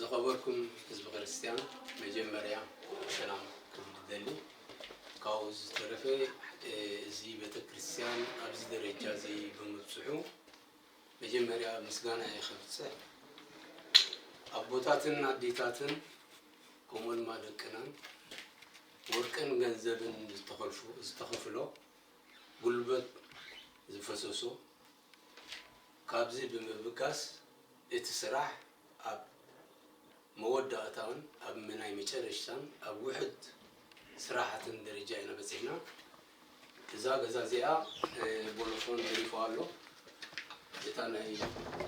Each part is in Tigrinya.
ዝኸበርኩም ህዝቢ ክርስትያን መጀመርያ ሰላም ክብል ይደሊ ካብኡ ዝተረፈ እዚ ቤተክርስትያን ኣብዚ ደረጃ እዚ ብምብፅሑ መጀመርያ ምስጋናይ ከብጽሕ ኣቦታትን ኣዴታትን ከምኡ ድማ ደቅናን ወርቅን ገንዘብን ዝተኸልፉ ዝተኸፍሎ ጉልበት ዝፈሰሶ ካብዚ ብምብጋስ እቲ ስራሕ ኣብ መወዳእታን ኣብ ናይ መጨረሽታን ኣብ ውሕድ ስራሕትን ደረጃ ኢና በጺሕና። እዛ ገዛ እዚኣ ቦሎፎን ደሪፉ ኣሎ እታ ናይ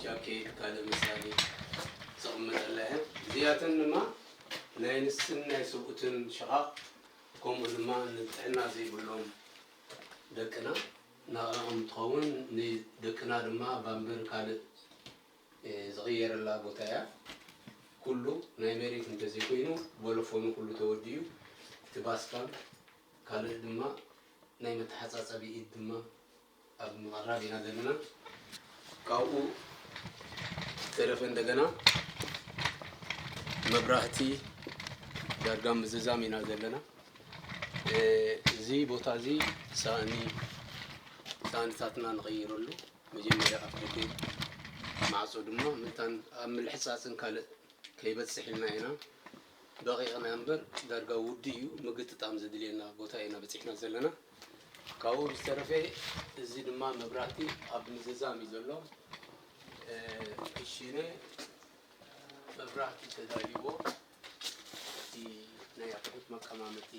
ጃኬት ካልእ መሳሊ ዝቅመጠላ እያ እዚኣተን ድማ ናይ ንስን ናይ ስብኡትን ሽቓቕ ከምኡ ድማ ንጥዕና ዘይብሎም ደቅና ናኣኦም እንትኸውን ንደቅና ድማ ባምበር ካልእ ዝቅየረላ ቦታ እያ ኩሉ ናይ መሬት እንተዘይኮይኑ ቦሎፎኑ ኩሉ ተወዲኡ እቲ ባስካም ካልእ ድማ ናይ መተሓጻጸቢ ኢድ ድማ ኣብ ምቕራብ ኢና ዘለና። ካብኡ ዝተረፈ እንደገና መብራህቲ ዳርጋ ምዝዛም ኢና ዘለና። እዚ ቦታ እዚ ሳእኒ ሳእንታትና ንቕይረሉ መጀመርያ ኣፍ ደገ ማዕጾ ድማ መታን ኣብ ምልሕጻጽን ካልእ ከይበጽሕ ኢልና ኢና። ደቂቅና እምበር ዳርጋ ውዱእ እዩ ምግጥጣም ዘድልየና ቦታ ኢና በጺሕና ዘለና ካብኡ ብዝተረፈ እዚ ድማ መብራህቲ ኣብ ምዝዛም እዩ ዘሎ ክሽነ መብራህቲ ተዳልዎ እቲ ናይ ኣቑሑት መቀማመጢ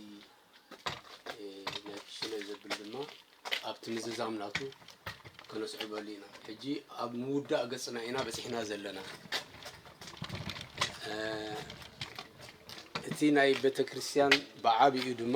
ሽለ ዘብል ድማ ኣብቲ ምዝዛም ናቱ ከነስዕበሉ ኢና ሕጂ ኣብ ምውዳእ ገፅና ኢና በፂሕና ዘለና እቲ ናይ ቤተ ክርስቲያን ብዓብኡ ድማ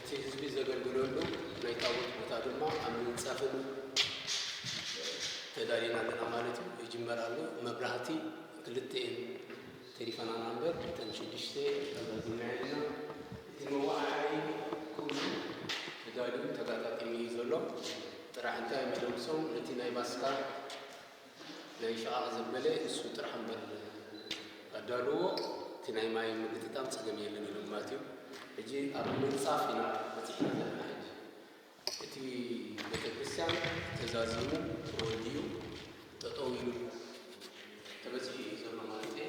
እቲ ህዝቢ ዘገልግለሉ ናይ ታቦት ቦታ ድማ ኣብ ምንፃፍን ተዳሊና ኣለና ማለት እዩ። ይጅመር ኣሎ መብራህቲ ክልተ እየን ተሪፈናና እምበር እተን ሽዱሽተ ኣዛዚምና ኣለና። እቲ መወዓዓይ ኩሉ ተዳልዩ ተጋጣጢሙ እዩ ዘሎ። ጥራሕ እንታይ መደምሶም ነቲ ናይ ባስካ ዘይሸቓቕ ዘበለ እሱ ጥራሕ እምበር ኣዳልዎ እቲ ናይ ማይ ምግጥጣም ፀገም የለን ኢሎም ማለት እዩ። ሕጂ ኣብ ምንፃፍ ኢና በፂሕና ዘለና ሕጂ እቲ ቤተክርስትያን ተዛዚሙ ተወዲኡ ጠጠው ኢሉ ተበፂሑ እዩ ዘሎ ማለት እየ።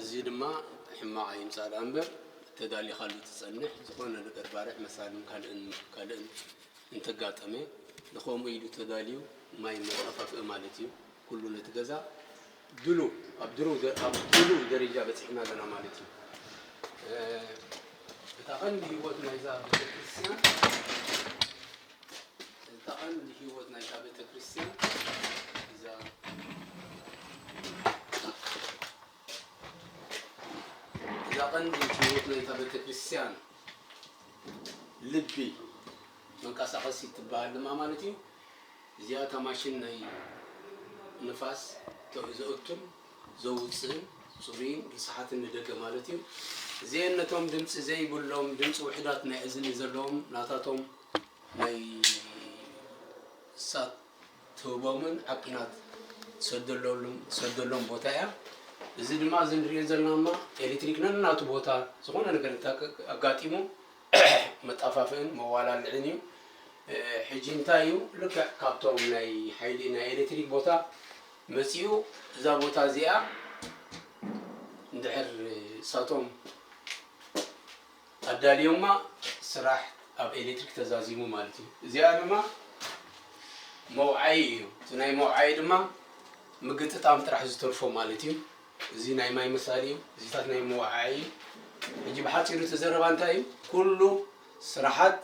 እዚ ድማ ሕማቕ ኣይምጻእ ደኣ እምበር ተዳሊኻሉ ትጸንሕ። ዝኾነ ነገር ባርዕ መሳልን ካልእን ካልእን እንተጋጠመ ንኸምኡ ኢሉ ተዳልዩ ማይ መጠፋፍኢ ማለት እዩ። ኩሉ ነቲ ገዛ ድሉ ኣብ ድሩ ኣብ ድሉ ደረጃ በጺሕና ኣለና ማለት እዩ። እታ ቀንዲ ህይወት ናይዛ ቤተክርስትያን እታ ቀንዲ ህይወት ናይታ ቤተ ክርስቲያን እዛ እዛ ቀንዲ ህይወት ናይታ ቤተ ክርስቲያን ልቢ መንቀሳቐሲ ትበሃል ድማ ማለት እዩ እዚኣ እታ ማሽን ናይ ንፋስ ዘእቱን ዘውፅእን ፅሩይን ርስሓትን ንደገ ማለት እዩ እዚአን ነቶም ድምፂ ዘይብሎም ድምፂ ውሕዳት ናይ እዝኒ ዘለዎም ናታቶም ናይ ሳብ ትህቦምን ኣብ ኲናት ትሰደሎም ቦታ እያ። እዚ ድማ እዚ ንሪኦ ዘለና ድማ ኤሌክትሪክ ነናቱ ቦታ ዝኾነ ነገር ኣጋጢሙ መጣፋፍእን መዋላልዕን እዩ። ሕጂ እንታይ እዩ ልክዕ ካብቶም ናይ ሓይሊ ናይ ኤሌክትሪክ ቦታ መፂኡ እዛ ቦታ እዚኣ እንድሕር እሳቶም ኣዳልዮማ ስራሕ ኣብ ኤሌክትሪክ ተዛዚሙ ማለት እዩ። እዚኣ ድማ መውዓዪ እዩ። እቲ ናይ መውዓዪ ድማ ምግጥጣም ጥራሕ ዝተርፎ ማለት እዩ። እዚ ናይ ማይ መሳሊ እዩ። እዚታት ናይ መወዓዒ እዩ። ሕጂ ብሓጺሩ እቲ ዘረባ እንታይ እዩ? ኩሉ ስራሓት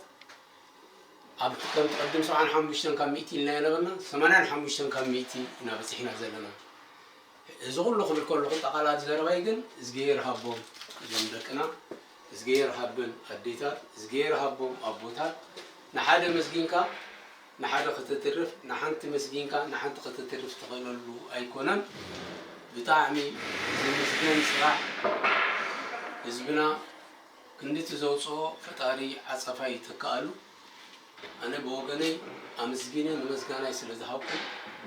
ኣብቲ ከምቲ ቅድም ሰብዓን ሓሙሽተን ካብ ሚእቲ ኢልና ኢናበልና ሰማንያን ሓሙሽተን ካብ ሚእቲ ኢና በጺሕና ዘለና። እዚ ኩሉ ክብል ከለኩ ጠቃላሊ ዘረባይ ግን እዝግሄር ሃቦም እዞም ደቅና እዝግሄር ሃበን ኣዴታት እዝግሄር ሃቦም ኣቦታት ንሓደ መስጊንካ ንሓደ ከተትርፍ ንሓንቲ መስጊንካ ንሓንቲ ከተትርፍ ትክእለሉ ኣይኮነን ብጣዕሚ ዝምስገን ስራሕ ህዝብና ክንድቲ ዘውጽኦ ፈጣሪ ዓጸፋ ይተክኣሉ። ኣነ ብወገነይ ኣምስጊነ ንመስጋናይ ስለ ዝሃብኩ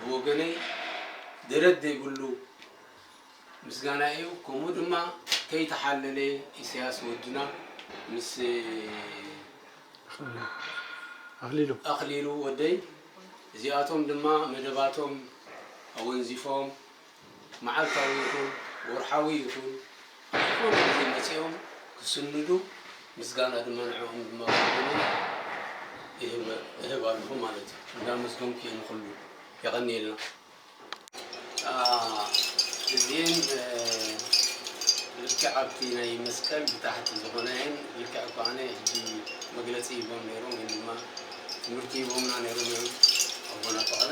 ብወገነይ ደረት ዘይብሉ ምስጋና ኢዩ ከምኡ ድማ ከይተሓለለ ኢሰያስ ወድና ምስ ኣክሊሉ ወደይ እዚኣቶም ድማ መደባቶም ኣወንዚፎም መዓልታዊ ይኹን ወርሓዊ ይኹን ኣብ ዝኾነ ግዜ መጺኦም ክስንዱ ምስጋና ድማ ንዕኦም ድማ ክውንን እህብ ኣለኹ ማለት እዩ። እንዳመስገንኩ እየ ንኹሉ። የቐንየልና። እዚኤን ልክዕ ኣብቲ ናይ መስቀል ብታሕቲ ዝኾና እየን። ልክዕ እኳ ኣነ ሕጂ መግለጺ ሂቦም ነይሮም ግን ድማ ትምህርቲ ሂቦምና ነይሮም እዮም ኣቦና ፍቕረ።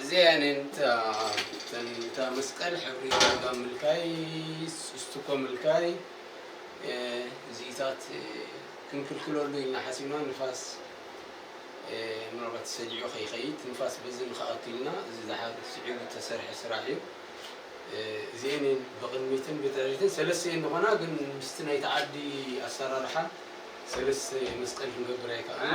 እዚኣን እየን እታ መስቀል ሕብሪ ዳርጋ ምልካይ ስቱኮ ምልካይ እዚኢታት ክንክልክለሉ ኢልና ሓሲብና ንፋስ ምናልባት ተሰጂዑ ከይኸይድ ንፋስ በዚ ንክኣክልና እዚ ዝሓር ስዒቡ ዝተሰርሐ ስራሕ እዩ እዚኤን ብቕድሚትን ብድሕሪትን ሰለስተ እየን ዝኾና ግን ምስቲ ናይቲ ዓዲ ኣሰራርሓ ሰለስተ መስቀል ክንገብር ኣይከኣልና